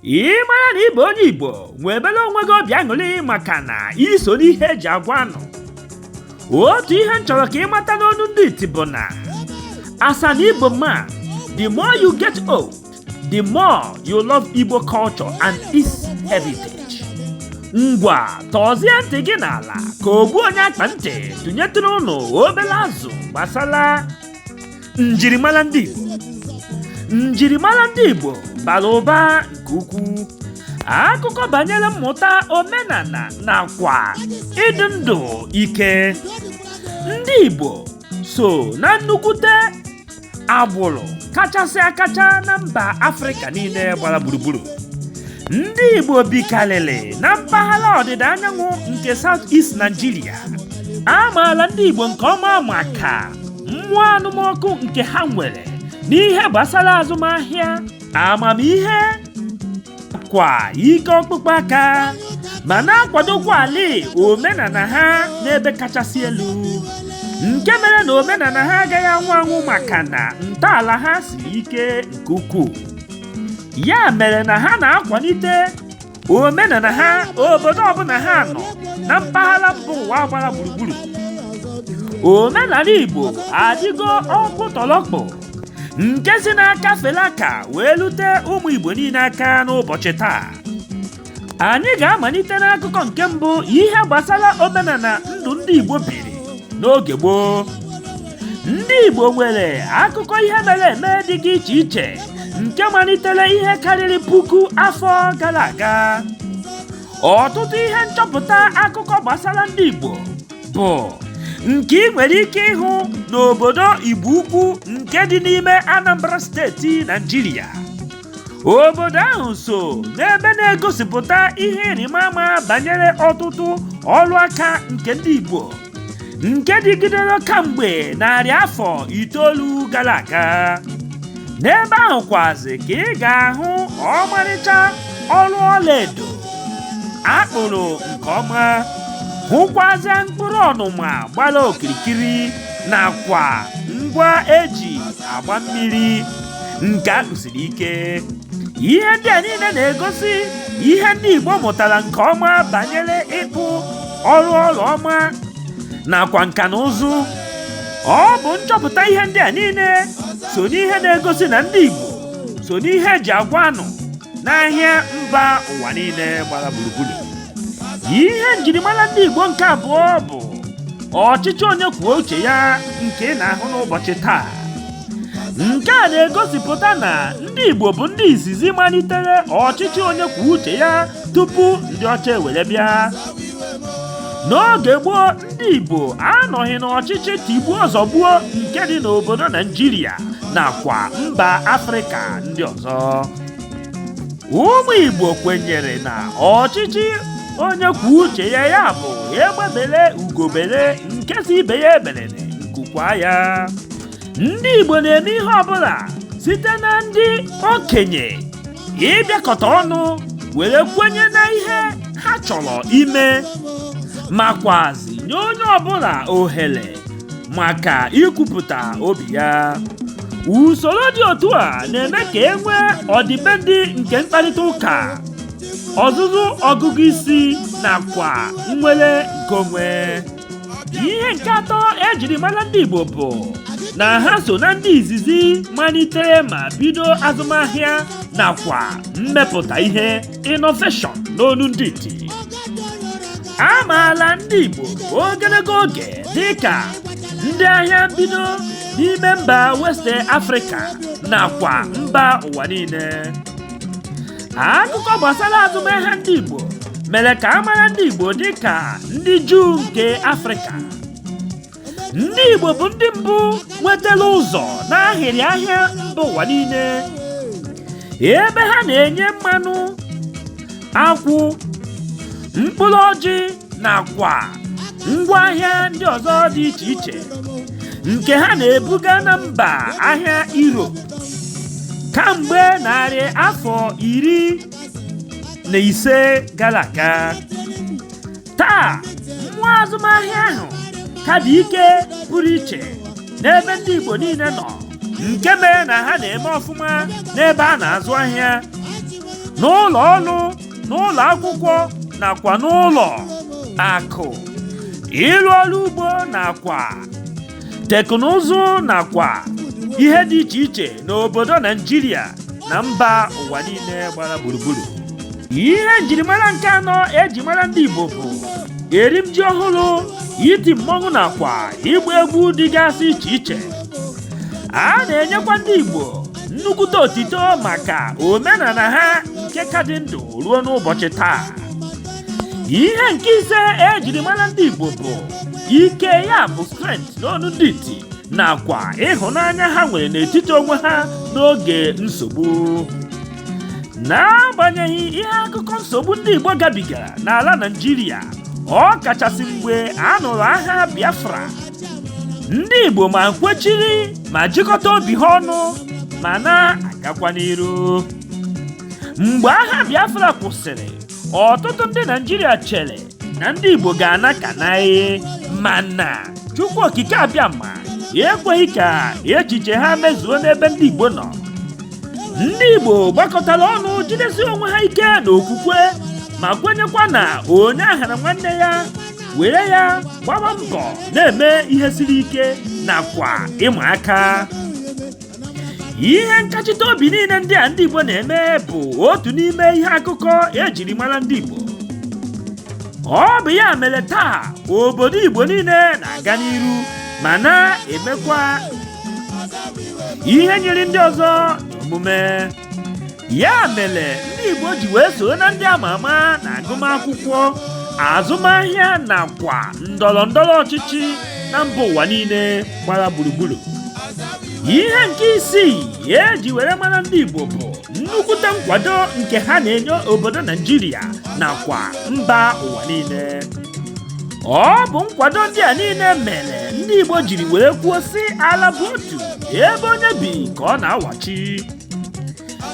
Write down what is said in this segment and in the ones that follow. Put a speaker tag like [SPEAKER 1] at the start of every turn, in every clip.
[SPEAKER 1] ị mara na ị bụ onye igbo nwebere onwe gị obi aṅụrị maka na i so n'ihe eji agwa anụ otu ihe m chọrọ ka ị mata n'onu ndị iti bụ na as an igbo man the more you get old the more you love Igbo culture and its heritage. Ngwa tọzie ntị gị n'ala ka ogbu onye akpa ntị tụnyetụrụ ụnụ obere azụ gbasara njirimara ndị Igbo. Njirimara ndị Igbo bara ụba nke ukwuu. Akụkọ banyere mmụta omenala nakwa ịdị ndụ ike. Ndị Igbo so na nnukwute agbụrụ kachasị akacha na mba afrịka niile gbara gburugburu ndị igbo bikarịrị na mpaghara ọdịda anyanwụ nke south east nigeria a maara ndị igbo nke ọma maka mmụọ anụmọkụ nke ha nwere n'ihe gbasara azụmahịa amamihe kwa ike ọkpụkpụ aka ma na-akwadokwa ala omenala ha n'ebe kachasị elu nke mere na omenala ha agaghị anwụ anwụ maka na ntọala ha siri ike nke ukwuu ya mere na ha na-akwalite omenala ha obodo ọbụla ha nọ na mpaghara mba ụwa gbara gburugburu omenala igbo adịgo ọkpụtọlọkpụ nke si n'aka fele aka wee lute ụmụ igbo niile aka n'ụbọchị taa anyị ga-amalite n'akụkọ nke mbụ ihe gbasara omenala ndụ ndị igbo biri n'oge gboo ndị Igbo nwere akụkọ ihe mere eme dị iche iche nke malitere ihe karịrị puku afọ gara aga ọtụtụ ihe nchọpụta akụkọ gbasara ndị Igbo bụ nke ị nwere ike ịhụ n'obodo Igbo Ukwu nke dị n'ime Anambra steeti Naịjirịa obodo ahụ so n'ebe na-egosipụta ihe ịrịma ama banyere ọtụtụ ọrụ aka nke ndị Igbo nke dịgidere kamgbe narị afọ itoolu gara aga n'ebe ahụ kwazi ka ị ga-ahụ ọmarịcha ọrụ ọlaedo akpụrụ nke ọma hụkwazie mkpụrụ ọnụma gbara okirikiri nakwa ngwa eji agba mmiri nke akpụsiri ike ihe ndị a niile na-egosi ihe ndị Igbo mụtara nke ọma banyere ịkpụ ọrụ ọla ọma nakwa nka na ụzụ ọ bụ nchọpụta ihe ndị a niile so n'ihe na-egosi na ndị Igbo so n'ihe eji agwa anụ n'ahịa mba ụwa niile gbara gburugburu ihe njirimara ndị Igbo nke abụọ bụ ọchịchị onye kwuo uche ya nke ị na-ahụ n'ụbọchị taa nke a na-egosipụta na ndị Igbo bụ ndị izizi malitere ọchịchị onye kwuo uche ya tupu ndị ọcha ewere bịa n'oge gboo ndị Igbo anọghị n'ọchịchị tigbuo zọgbuo nke dị n'obodo Naijiria nakwa mba Afrịka ndị ọzọ ụmụ Igbo kwenyere na ọchịchị onye kwuo uche ya ya bụ egbe bele ugo bele nke sị ibe ya ebelele nku kwaa ya ndị Igbo na-eme ihe ọbụla site na ndị okenye ịbịakọta ọnụ were kwenye na ihe ha chọrọ ime makwazi nye onye ọbụla ohere maka ikwupụta obi ya usoro dị otu a na-eme ka e nwee ọdịbendị nke mkparịta ụka ọzụzụ ọgụgụ isi nakwa nnwere nke onwe ihe nke atọ ejiri mara ndị Igbo bụ na ha so na ndị izizi malitere ma bido azụmahịa nakwa mmepụta ihe innovation n'olu ndị iti a maala ndị Igbo ogologo oge dị ka ndị ahịa mbido n'ime mba West Africa nakwa mba ụwa niile akụkọ gbasara azụmahịa ndị Igbo mere ka a mara ndị Igbo dị ka ndị Juu nke Afrịka ndị Igbo bụ ndị mbụ nwetara ụzọ n'ahịrị ahịa mba ụwa niile ebe ha na-enye mmanụ akwụ mkpụrụ ọjị nakwa ngwaahịa ndị ọzọ dị iche iche nke ha na-ebuga na mba ahịa Europe kamgbe narị afọ iri na ise gara aga taa mmụọ azụmahịa ahụ ka dị ike pụrụ iche n'ebe ndị Igbo niile nọ nke mere na ha na-eme ọfụma n'ebe a na-azụ ahịa n'ụlọ ọrụ n'ụlọ akwụkwọ nakwa n'ụlọ akụ ịrụ ọrụ ugbo nakwa teknụzụ nakwa ihe dị iche iche n'obodo naijiria na mba ụwa niile gbara gburugburu ihe njirimara nke anọ eji mara ndị igbo bụ erim ji ọhụrụ iti mmọnwụ nakwa ịgba egwu dịgasị iche iche a na-enyekwa ndị igbo nnukwute otito maka omenala ha nke ka dị ndụ ruo n'ụbọchị taa ihe nke ise ejiri mara ndị Igbo bụ ike ya bụ strength n'ọnụ ndị iti nakwa ịhụnanya ha nwere n'etiti onwe ha n'oge nsogbu n'agbanyeghị ihe akụkọ nsogbu ndị Igbo gabigara n'ala Naịjirịa ọ kachasị mgbe a nụrụ agha Biafra ndị Igbo ma kwechiri ma jikọta obi ha ọnụ ma na-agakwa n'iru mgbe agha Biafra kwụsịrị ọtụtụ ndị Naịjirịa chere na ndị Igbo ga-ana ka naị mana Chukwu Okike Abịama ekweghị ka echiche ha mezuo n'ebe ndị Igbo nọ ndị Igbo gbakọtara ọnụ jidesi onwe ha ike na okwukwe ma kwenyekwa na onye aghana nwanne ya were ya gbaba mbọ na-eme ihe siri ike nakwa ịma aka ihe nkachite obi niile ndị a ndị Igbo na-eme bụ otu n'ime ihe akụkọ ejiri mara ndị Igbo ọ bụ ya mere taa obodo Igbo niile na-aga n'iru ma na-emekwa ihe nyịrị ndị ọzọ n'omume ya mere ndị Igbo ji wee soro na ndị ama ama na agụmakwụkwọ azụmahịa nakwa ndọrọ ndọrọ ọchịchị na mba ụwa niile gbara gburugburu ihe nke isii eji were mara ndị Igbo bụ nnukwute nkwado nke ha na-enye obodo Naijiria nakwa mba ụwa niile ọ bụ nkwado ndị a niile mere ndị Igbo jiri were kwuo sị ala bụ otu ebe onye bi ka ọ na-awachi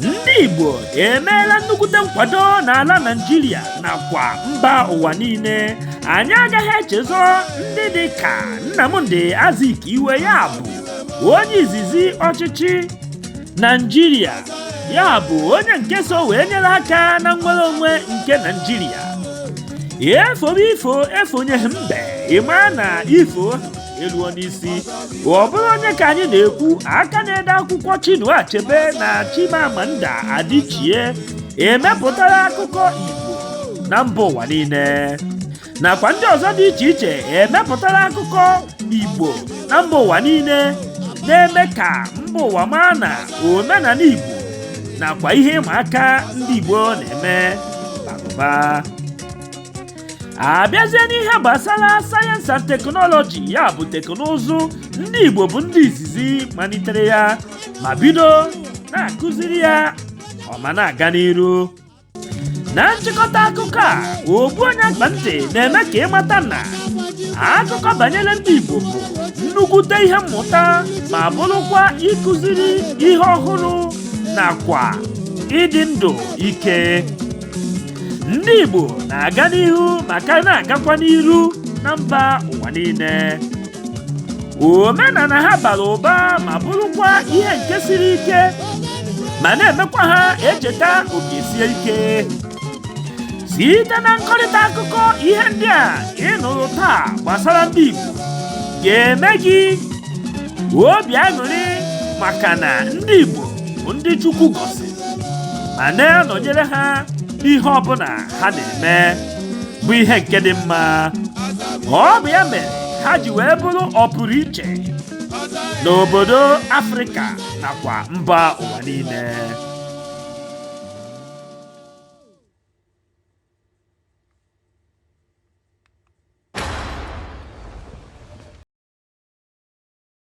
[SPEAKER 1] ndị igbo emeela nnukwute nkwado n'ala naijiria nakwa mba ụwa niile anyị agaghị echezọ ndị dị ka nnamdi azikiwe ya bụ onye izizi ọchịchị naijiria ya bụ onye nke so wee nyere aka na nnwere onwe nke naijiria efobe ifo efonyeghị mbe ịma na ifo eluo n'isi ọ bụrụ onye ka anyị na-ekwu aka na-ede akwụkwọ Chinua Achebe na Chimamanda Adichie emepụtara akụkọ Igbo na mba ụwa niile nakwa ndị ọzọ dị iche iche emepụtara akụkọ Igbo na mba ụwa niile na-eme ka mba ụwa maa na omenala Igbo nakwa ihe ịma aka ndị Igbo na-eme bara abịazie n'ihe gbasara sayensị and teknọlọji ya bụ teknụzụ ndị Igbo bụ ndị izizi malitere ya ma bido na-akụziri ya ọma na-aga n'iru na nchịkọta akụkọ a ogbu onye akpa ntị na-eme ka ị mata na akụkọ banyere ndị Igbo bụ nnukwute ihe mmụta ma bụrụkwa ịkụziri ihe ọhụrụ nakwa ịdị ndụ ike ndị Igbo na-aga n'ihu ma ka na-agakwa n'iru na mba ụwa niile omenala ha bara ụba ma bụrụkwa ihe nke siri ike ma na-emekwa ha echeta oke sie ike site na nkọrịta akụkọ ihe ndị a ị nụrụ taa gbasara ndị Igbo ga-eme gị obi aṅụrị maka na ndị Igbo bụ ndị Chukwu gọziri ma na-anọnyere ha n'ihe ọbụla ha na-eme bụ ihe nke dị mma ọ bụ ya mere ha ji wee bụrụ ọpụrụ iche n'obodo Afrịka nakwa mba ụwa niile